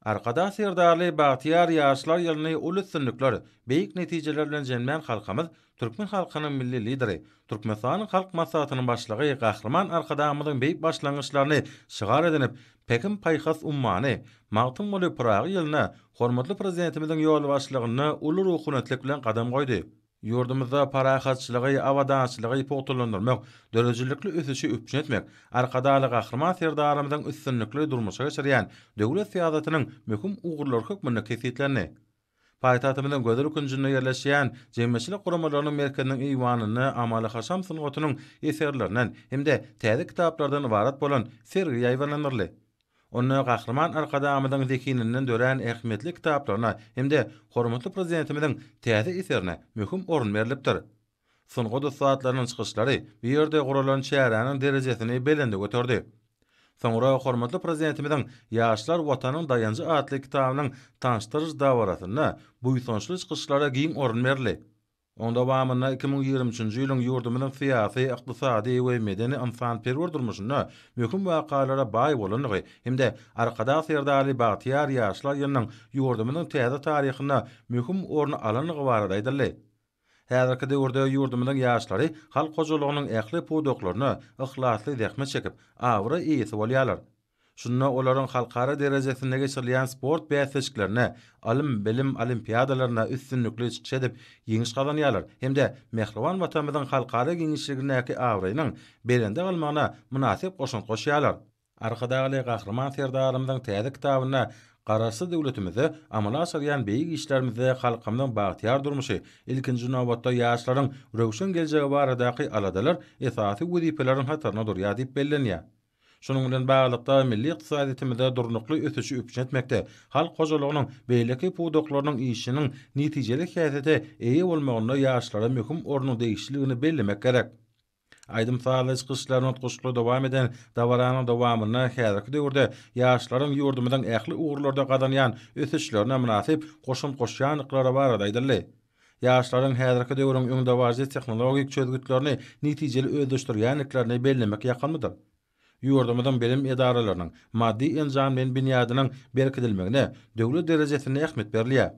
Arkadag Serdarly bagtyýar ýaşlar ýylyny uly üstünlikler, beýik netijeler bilen jemlän halkymyz, türkmen halkynyň Milli Lideri, Türkmenistanyň Halk Maslahatynyň Başlygy Gahryman Arkadagymyzyň beýik başlangyçlaryny şygar edinip, Pähim-paýhas ummany, Magtymguly Pyragy ýylyna hormatly Prezidentimiziň ýolbaşçylygynda uly ruhubelentlik bilen gadam goýdy. Ýurdumyzda parahatçylygy, abadançylygy pugtalandyrmak, döredijilikli ösüşi üpjün etmek Arkadagly Gahryman Serdarymyzyň üstünlikli durmuşa geçirýän döwlet syýasatynyň möhüm ugurlary hökmünde kesgitlendi. Paýtagtymyzyň gözel künjünde ýerleşýän jemgyýetçilik guramalarynyň merkeziniň eýwanynda amaly-haşam sungatynyň eserlerinden hem-de täze kitaplardan ybarat bolan sergi ýaýbaňlandyryldy. Onda Gahryman Arkadagymyzyň zehininden dörän ähmiýetli kitaplaryna hem-de hormatly Prezidentimiziň täze eserine möhüm orun berlipdir. Sungat ussatlarynyň çykyşlary bu ýerde guralan çäräniň derejesini belende göterdi. Soňra hormatly Prezidentimiziň Ýaşlar, Watanyň daýanjy atly kitabynyň tanyşdyryş dabarasynda buýsançly çykyşlara giň orun berildi. Onuň dowamynda iki müň ýigrimi üçünji ýylyň ýurdumyzyň syýasy, ykdysady we medeni-ynsanperwer durmuşynda möhüm wakalara baý bolandygy hem-de Arkadag Serdarly bagtyýar ýaşlar ýylynyň ýurdumyzyň täze taryhynda möhüm orun alandygy barada aýdyldy. Häzirki döwürde ýurdumyzyň ýaşlary halk hojalygynyň ähli pudaklarynda yhlasly zähmet çekip, abraý eýesi bolýarlar. Şunda olaryň halkara derejesinde geçirilýän sport bäsleşiklerine, ylym-bilim olimpiadalaryna üstünlikli çykyş edip, ýeňiş gazanýarlar hem-de mähriban Watanymyzyň halkara giňişligindäki abraýynyň belende galmagyna mynasyp goşant goşýarlar. Arkadagly Gahryman Serdarymyzyň täze kitabynda Garaşsyz döwletimizde amala aşyrýan beýik işlerimizde halkymyzyň bagtyýar durmuşy, ilkinji nobatda, ýaşlaryň röwşen geljegi baradaky aladalar esasy wezipeleriň hatarynda durýar diýip bellenýär. Şunuň bilen baglylykda, milli ykdysadyýetimizde durnukly ösüşi üpjün etmekde, halk hojalygynyň beýleki pudaklarynyň işiniň netijeli häsiýete eýe bolmagynda ýaşlara möhüm ornuň degişliligini bellemek gerek. Aýdym-sazly çykyşlaryny utgaşykly dowam eden dabaranyň dowamynda häzirki döwürde ýaşlaryň ýurdumyzyň ähli ugurlarda gazanýan ösüşlerine mynasyp goşant goşýandyklary barada aýdyldy. Ýaşlaryň häzirki döwrüň öňdebaryjy tehnologik çözgütlerini netijeli özleşdirýändiklerini bellemek ýakymlydyr. Ýurdumyzyň bilim edaralarynyň maddy-enjam bilen binýadynyň berkidilmegine döwlet derejesinde ähmiýet berilýär.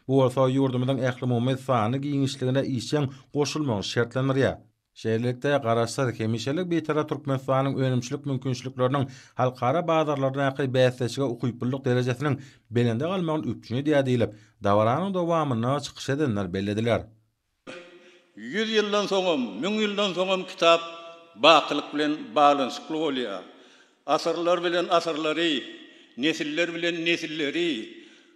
Bu bolsa ýurdumyzyň ählumumy sany giňişligine işjeň goşulmagyny şertlendirýär. Şeýlelikde, Garaşsyz, hemişelik Bitarap Türkmenistanyň önümçilik mümkinçilikleriniň halkara bazarlardaky bäsdeşlige ukyplylyk derejesiniň belende galmagyny üpjün edýär diýlip, dabaranyň dowamynda çykyş edenler bellediler. Ýüz ýyldan soňam, müň ýyldan soňam kitap bakylyk bilen baglanyşykly bolýar. Asyrlar bilen asyrlary, nesiller bilen nesilleri,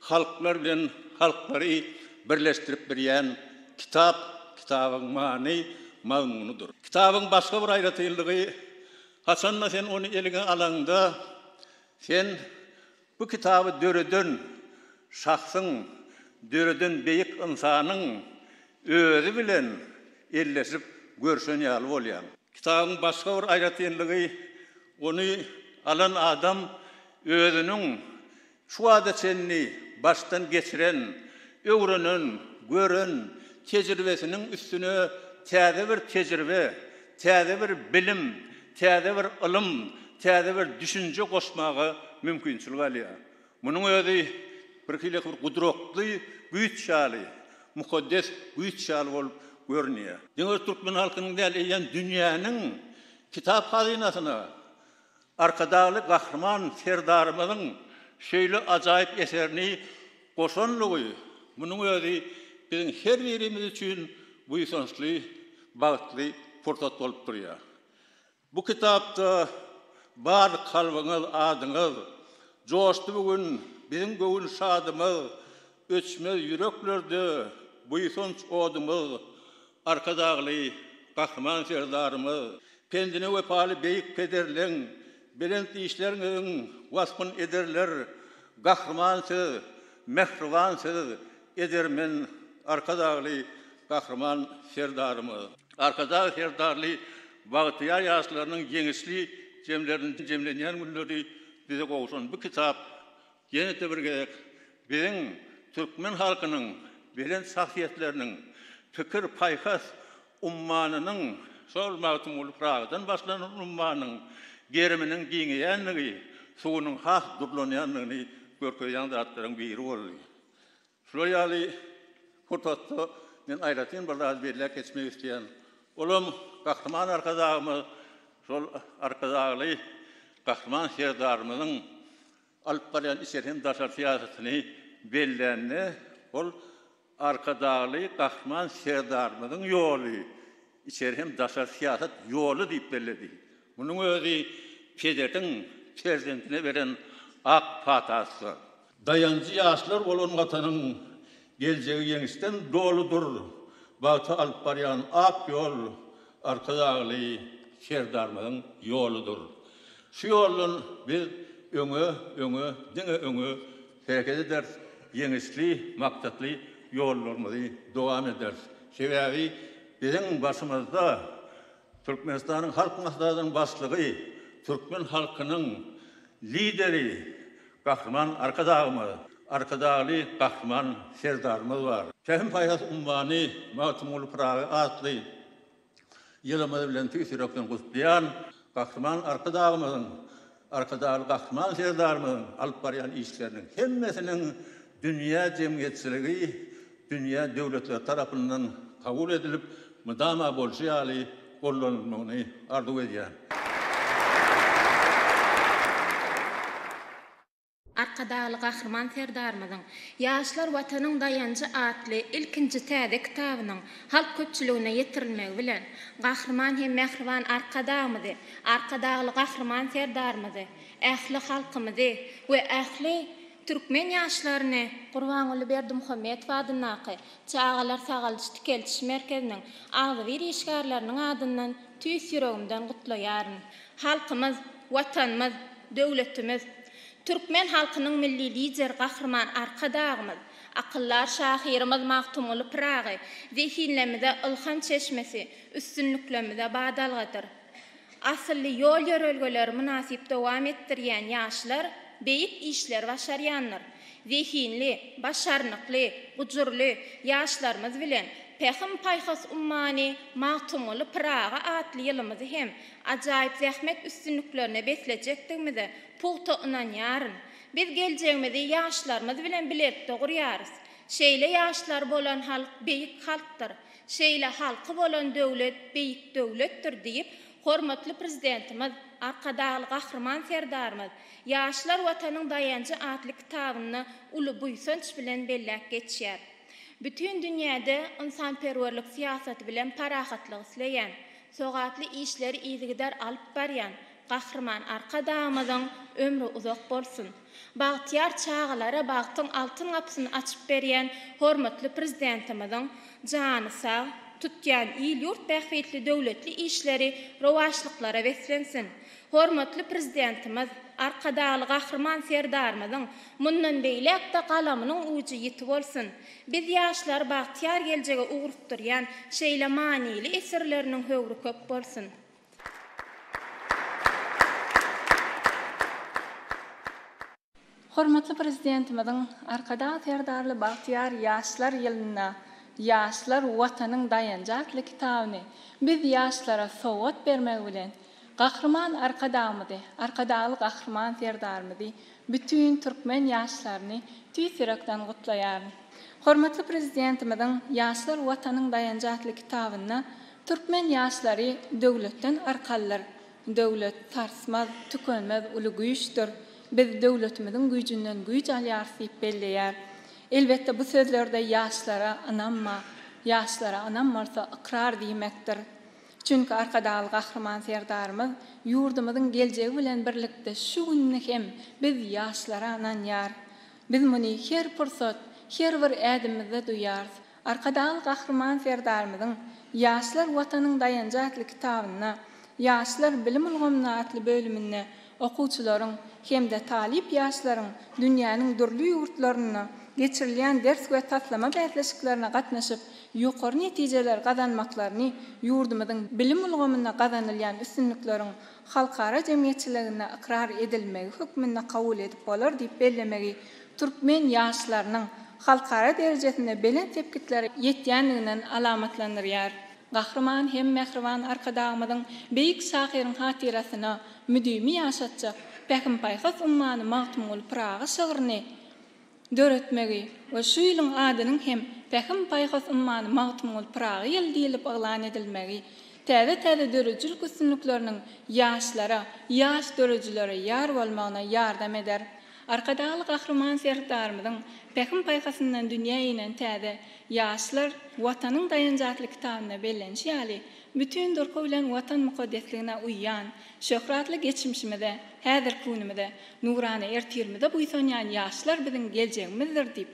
halklar bilen halklary birleşdirip birýän kitap kitabyň many, mazmunydyr. Kitabyň başga bir aýratynlygy, haçan-da sen ony eliňe alaňda, sen Bu kitaby döreden şahsyň, döreden beýik ynsanyň özi bilen elleşip görşen ýaly bolýaň. Kitabyň başga bir aýratynlygy, ony alan adam özüniň şu wagta çenli başdan geçiren, öwrenen, gören tejribesiniň üstüne täze bir tejribe, Täze bir bilim, täze bir ylym, täze bir düşünje goşmaga mümkinçilik alýar. Munuň özi birhili bir gudratly güýç ýaly, mukaddes güýç ýaly bolup görünýär. Diňe bir türkmen halkynyň däl, eýýäm dünýäniň kitap hazynasyna Arkadagly Gahryman Serdarymyzyň şeýle ajaýyp eserini goşanlygy, munuň özi biziň her birimiz üçin buýsançly, bagtly pursat bolup durýar. Bu kitapda bar kalbyňyz, adyňyz joşdy bu gün, biziň göwün şadymyz, öçmez ýüreklerde buýsanç odumyz, Arkadagly Gahryman Serdarymyz pendine wepaly beýik pederleň belent işleriňiziň waspyn ederler Gahryman siz mähriban siz edermen Arkadagly Gahryman Serdarymyz Arkadag Serdarly bagtyýar ýaşlarynyň ýeňişli jemleriniň jemlenýän günleri bize gowşan bu kitap Ýene-de bir gezek biziň türkmen halkynyň belent şahsyýetleriniň pikir-paýhas ummanynyň, şol Magtymguly Pyragydan başlanan ummanyň geriminiň giňeýändigi, suwunyň has durlanýandygyny görkezýän zatlaryň biri boldy. Şular ýaly pursatda men aýratyn bir zady belläp geçmek isleýän. Olam Gahryman Arkadagymyz şol Arkadagly Gahryman Serdarymyzyň alyp barýan içeri hem daşary syýasatyny bellände, ol Arkadagly Gahryman Serdarymyzyň ýoly, içeri hem daşary syýasat ýoly diýip belledi. Munuň özi pederiň perzendine beren ak patasydyr. Daýanjy ýaşlar bolan Watanyň Geljegi ýeňişden doludyr. Bagta alyp barýan ak ýol Arkadagly Serdarymyzyň ýoludyr. Şu ýoldan biz öňe, öňe, diňe öňe hereket ederis, ýeňişli, maksatly ýollarymyzy dowam ederis. Sebäbi biziň başymyzda Türkmenistanyň Halk Maslahatynyň Başlygy, türkmen halkynyň Lideri Gahryman Arkadagymyz, Arkadagly Gahryman Serdarymyz bar. Pähim-paýhas ummany Magtymguly Pyragy atly ýylymyz bilen tüýs ýürekden gutlaýan Gahryman Arkadagymyzyň Arkadagly Gahryman Serdarymyzyň alyp barýan işleriniň hemmesiniň dünýä jemgyýetçiligi, dünýä döwletleri tarapyndan kabul edilip, mydama bolşy ýaly gollanylmagyny arzuw edýän. Arkadagly Gahryman Serdarymyzyň Ýaşlar, Watanyň daýanjy atly ilkinji täze kitabynyň halk köpçüligine ýetirilmegi bilen, Gahryman hem mähriban Arkadagymyzy, Arkadagly Gahryman Serdarymyzy, ähli halkymyzy we ähli türkmen ýaşlaryny, Gurbanguly Berdimuhamedow adyndaky Çagalar sagaldyş-dikeldiş merkeziniň agzybir işgärleriniň adyndan tüýs ýüregimden gutlaýaryn. Halkymyz. Watanymyz, döwletimiz, türkmen halkynyň Milli Lideri Gahryman Arkadagymyz, akyldar şahyrymyz Magtymguly Pyragy zehinlemize ylham çeşmesi, üstünliklemze badalgadyr. Asylly ýol-ýörelgeleri mynasyp dowam etdirýän ýaşlar beýik işleri başarýandyr. Zehinli, başarnykly, gujurly ýaşlarymyz bilen Pähim-paýhas ummany Magtymguly Pyragy atly ýylymyzy hem ajaýyp zähmet üstünliklerine beslejekdigimize pugta ynanýaryn. Biz geljegimizi ýaşlarymyz bilen bilelikde gurýarys. Şeýle ýaşlary bolan halk beýik halkdyr. Şeýle halky bolan döwlet beýik döwletdir diýip, hormatly Prezidentimiz, Arkadagly Gahryman Serdarymyz Ýaşlar Watanyň daýanjy atly kitabynda uly buýsanç bilen belläp geçýär. Bütin dünýäde ynsanperwerlik syýasaty bilen parahatlyk isleýän, Sogaply işleri yzygider alyp barýan Gahryman Arkadagymyzyň ömri uzak bolsun! Bagtyýar çagalara bagtyň altyn gapysyny açyp berýän hormatly Prezidentimiziň jany sag, tutýan il-ýurt bähbitli döwletli işleri rowaçlyklara beslensin! Hormatly Prezidentimiz, Arkadagly Gahryman Serdarymyzyň mundan beýläk-de galamynyň ujy ýiti bolsun! Biz ýaşlary bagtyýar geljege ugrukdyrýan şeýle manyly eserleriniň höwri köp bolsun! Hormatly Prezidentimiziň Arkadag Serdarly bagtyýar ýaşlar ýylynda Ýaşlar, Watanyň daýanjy atly kitabyny biz ýaşlara sowgat bermegi bilen, Gahryman Arkadagymyzy, Arkadagly Gahryman Serdarymyzy, bütin türkmen ýaşlaryny tüýs ýürekden gutlaýaryn. Hormatly Prezidentimiziň Ýaşlar Watanyň daýanjy atly kitabynda türkmen ýaşlary döwletden arkalydyr, Döwlet, sarsmaz, tükenmez uly güýçdür, biz döwletimiziň güýjünden güýç alýarys diýip belleýär. Elbetde, bu sözlerde ýaşlara ynam bar. Ýaşlara ynam bolsa, ykrar diýmekdir. Çünki Arkadagly Gahryman Serdarymyz ýurdumyzyň geljegi bilen birlikde şu gününi hem biz ýaşlara ynanýar. Biz muny her pursat, her bir ädimimizde duýýarys. Arkadagly Gahryman Serdarymyzyň Ýaşlar Watanyň daýanjy atly kitabynda, Ýaşlar bilim ulgamynda atly bölüminde Okuwçylaryň hem-de talyp ýaşlaryň dünýäniň dürli ýurtlarynda geçirilýän ders we taslama bäsleşiklerine gatnaşyp, ýokary netijeler gazanmaklaryny ýurdumyzyň bilim ulgamynda gazanylýan üstünlikleriň halkara jemgyýetçiliginde ykrar edilmegi hökmünde kabul edip bolar diýip bellemegi türkmen ýaşlarynyň halkara derejesinde belent sepgitlere ýetýändiginden alamatlandyrýar. Gahryman hem mähriban Arkadagymyzyň beýik şahyryň hatyrasyna, müdimi ýaşatjak Pähim-paýhas ummany Magtymguly Pyragy şygryny döretmegi we şu ýylyň adynyň hem Pähim-paýhas ummany Magtymguly Pyragy ýyly diýlip yglan edilmegi täze-täze döredijilik üstünlikleriniň ýaşlara, ýaş döredijilere ýar bolmagyna ýardam eder. Arkadagly Gahryman Serdarymyzyň Pähim-paýhasyndan dünýä inen täze Ýaşlar, Watanyň daýanjy atly kitabynda bellenişi ýaly, Bütin durky bilen Watan mukaddesligine uýýan, şöhratly geçmişimize, häzirki günümize, nurana ertirimize buýsanýan ýaşlar biziň geljegimizdir diýip,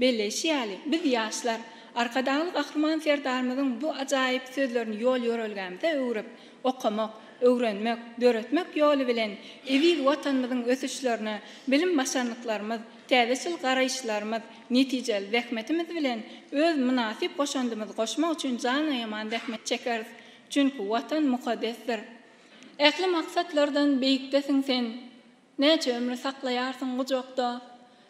belleýşi ýaly, biz, ýaşlar, Arkadagly Gahryman Serdarymyzyň bu ajaýyp sözlerini ýol-ýörelgämize öwrüp, okamak, öwrenmek, döretmek ýoly bilen eziz Watanymyzyň ösüşlerine bilim-başarnyklarymyz, Täzeçil garaýyşlarymyz, netijeli zähmetimiz bilen öz mynasyp goşandymyzy goşmak üçin jan aýaman zähmet çekeris. Çünki Watan mukaddesdir. Ähli maksatlardan beýikdesiň sen. Näçe ömri saklaýarsyň gujakda.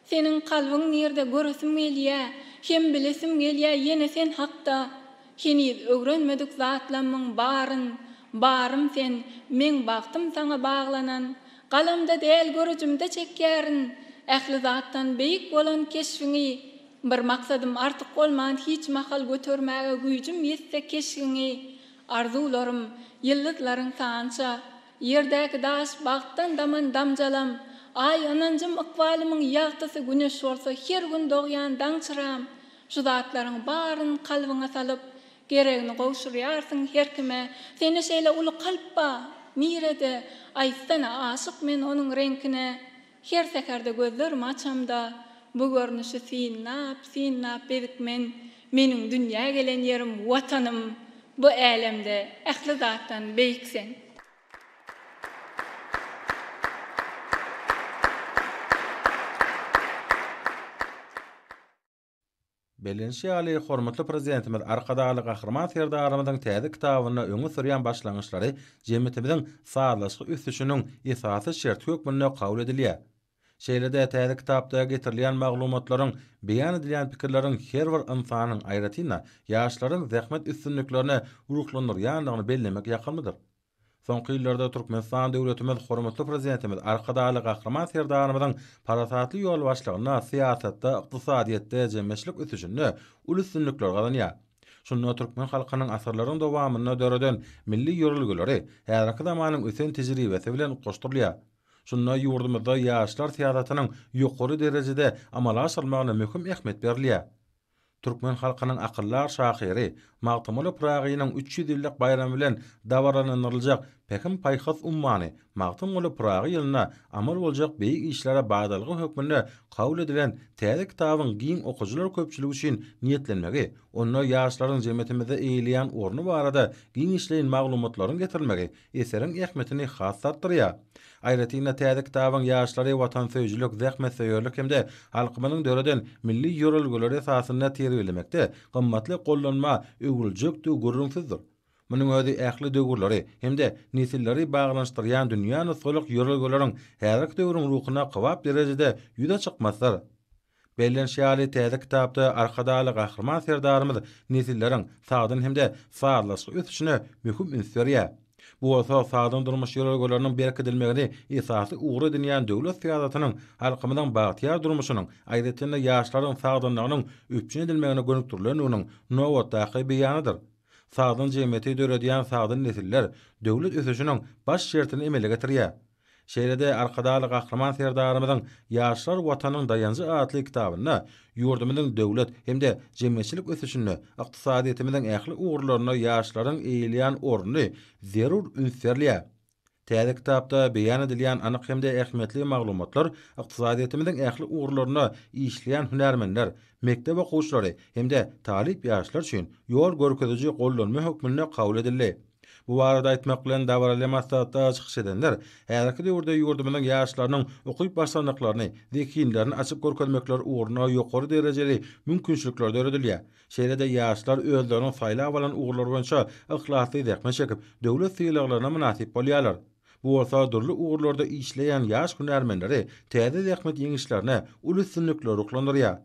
Seniň kalbyň nirde göresim gelýä, hem bilesim gelýä ýene sen hakda. Heniz öwrenmedik zatlammyň baryn, barym sen, meň bagtym saňa baglanan. Galamda däl görüjimde çekýärin Ähli zatdan beýik bolan keşbiňi Bir maksadym artyk bolman hiç mahal Götermäge güýjüm ýetse keşgiňi Arzuwlarym, ýyldyzlaryň sança Ýerdäki daş, bagtdan daman damjalam Aý, ynanjym, ykbalymyň ýagtysy Güneş bolsa, her gün dogýan daň çyram Şu zatlaryň baryn kalbyňa salyp Geregini gowşurýarsyň her kime Sende şeýle uly kalp ba, nirede Aýtsana aşyk men onuň reňkine Her säherde gözlerimi açamda Bu görnüşi synlap, synlap bezik men Meniň dünýä gelen ýerim Watanym Bu älemde ähli zatdan beýik sen. Bellenişi ýaly, hormatly Prezidentimiz Arkadagly Gahryman Serdarymyzyň täze kitabynda öňe sürýän başlangyçlary jemgyýetimiziň sazlaşykly ösüşiniň esasy şerti hökmünde kabul edilýär. Şeýle-de täze kitapda getirilýän maglumatlaryň, beýan edilýän pikirleriň her bir ynsanyň, aýratyn-da, ýaşlaryň zähmet üstünliklerine ruhlandyrýandygyny bellemek ýakymlydyr. Soňky ýyllarda Türkmenistan döwletimiz Hormatly Prezidentimiz Arkadagly Gahryman Serdarymyzyň parasatly ýolbaşçylygynda syýasatda, ykdysadyýetde, jemgyýetçilik ösüşinde uly üstünlikler gazanýar. Şunda türkmen halkynyň asyrlaryň dowamynda döreden milli ýörelgeleri häzirki zamanyň ösen tejribesi bilen utgaşdyrylýar. Şunda ýurdumyzda ýaşlar syýasatynyň ýokary derejede amala aşyrylmagyna möhüm ähmiýet berilýär. Türkmen halkynyň akyldar şahyry Magtymguly Pyragynyň üç ýüz ýyllyk baýramy bilen dabaralandyryljak Pähim-paýhas ummany Magtymguly Pyragy ýylynda amal boljak beýik işlere badalga hökmünde kabul edilen täze kitabyň giň okyjylar köpçüligi üçin niýetlenmegi, onda ýaşlaryň jemgyýetimizde eýeleýän orny barada giňişleýin maglumatlaryň getirilmegi Eseriň ähmiýetini has-da artdyrýar. Aýratyn-da, täze kitabyň ýaşlary watansöýüjilik, zähmetsöýerlik hem-de halkymyzyň döreden milli ýörelgeleri esasynda terbiýelemekde gymmatly gollanma öwrüljekdigi gürrüňsizdir. Munuň özi ähli döwürleri hem-de nesilleri baglanyşdyrýan dünýä nusgalyk ýörelgeleriň häzirki döwrüň ruhuna kybap derejede ýüze çykmasydyr. Bellenişi ýaly, täze kitapda Arkadagly Gahryman Serdarymyz nesilleriň sagdyn hem-de sazlaşykly ösüşine möhüm üns berýär. Bu bolsa sagdyn durmuş ýörelgeleriniň berkidilmegini esasy ugur edinýän döwlet syýasatynyň halkymyzyň bagtyýar durmuşynyň, aýratyn-da, ýaşlaryň sagdynlygynyň üpjün edilmegine gönükdirilendiginiň nobatdaky beýanydyr. Sagdyn jemgyýeti döredýän sagdyn nesiller döwlet ösüşiniň baş şertini emele getirýär. Şeýle-de Arkadagly Gahryman Serdarymyzyň Ýaşlar Watanyň daýanjy atly kitabynda ýurdumyzyň döwlet hem-de jemgyýetçilik ösüşinde, ykdysadyýetimiziň ähli ugurlarynda ýaşlaryň eýeleýän orny zerur üns berilýär. Täze kitapda beýan edilýän anyk hem-de ähmiýetli maglumatlar ykdysadyýetimiziň ähli ugurlarynda işleýän hünärmenler, mekdep okuwçylary hem-de talyp ýaşlar üçin ýol görkeziji gollanma hökmünde kabul edildi. Bu barada aýtmak bilen dabaraly maslahatda çykyş edenler häzirki döwürde ýurdumyzyň ýaşlarynyň ukyp başlandyklaryny, zehinlerini açyp görkezmekleri ugrunda ýokary derejeli mümkinçilikler döredilýär. Şeýle-de ýaşlar özleriniň saýlap alan ugurlary boýunça yhlasly zähmet çekip, döwlet sylaglaryna mynasyp bolýarlar. Bu bolsa dürli ugurlarda işleýän ýaş hünärmenleri täze zähmet ýeňişlerine uly üstünliklere ruhlandyrýar.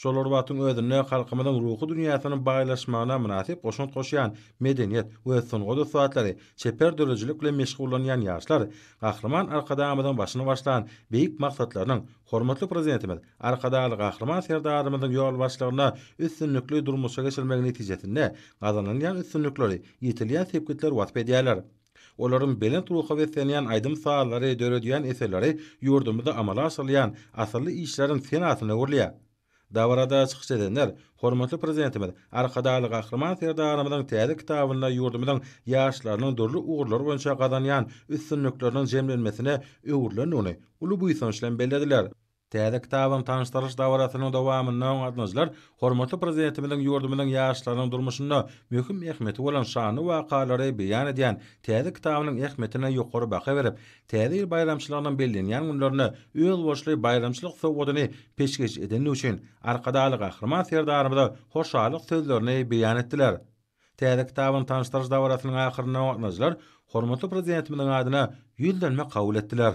Şol bir wagtyň özünde halkymyzyň ruhy dünýäsiniň baýlaşmagyna mynasyp goşant goşýan medeniýet we sungat ussatlary, çeper döredijilik bilen meşgullanýan ýaşlar Gahryman Arkadagymyzyň başyny başlan beýik maksatlarynyň hormatly Prezidentimiz Arkadagly Gahryman Serdarymyzyň ýolbaşçylygynda üstünlikli durmuşa geçirilmegi netijesinde gazanylýan üstünlikleri, ýetilýän sepgitleri wasp edýärler. Olaryň belent ruha beslenýän aýdym-sazlary, döredýän eserleri ýurdumyzda amala aşyrylýan asylly işleriň senasyna öwrülýär. Dabarada çykyş edenler hormatly Prezidentimiz Arkadagly Gahryman Serdarymyzyň täze kitabynda ýurdumyzyň ýaşlarynyň dürli ugurlar boýunça gazanýan üstünlikleriniň jemlenmesine öwrülendigini uly buýsanç bilen bellediler. Täze kitabyň tanyşdyryş dabarasynyň dowamynda gatnaşyjylar hormatly Prezidentimiziň ýurdumyzyň ýaşlarynyň durmuşynda möhüm ähmiýeti bolan şanly wakalary beýan edýän täze kitabynyň ähmiýetine ýokary baha berip, Täze ýyl baýramçylygynyň bellenýän günlerinde özboluşly baýramçylyk sowgadyny peşgeş edendigi üçin Arkadagly Gahryman Serdarymyza hoşallyk sözlerini beýan etdiler. Täze kitabyň tanyşdyryş dabarasynyň ahyrynda gatnaşyjylar hormatly Prezidentimiziň adyna ýüzlenme kabul etdiler.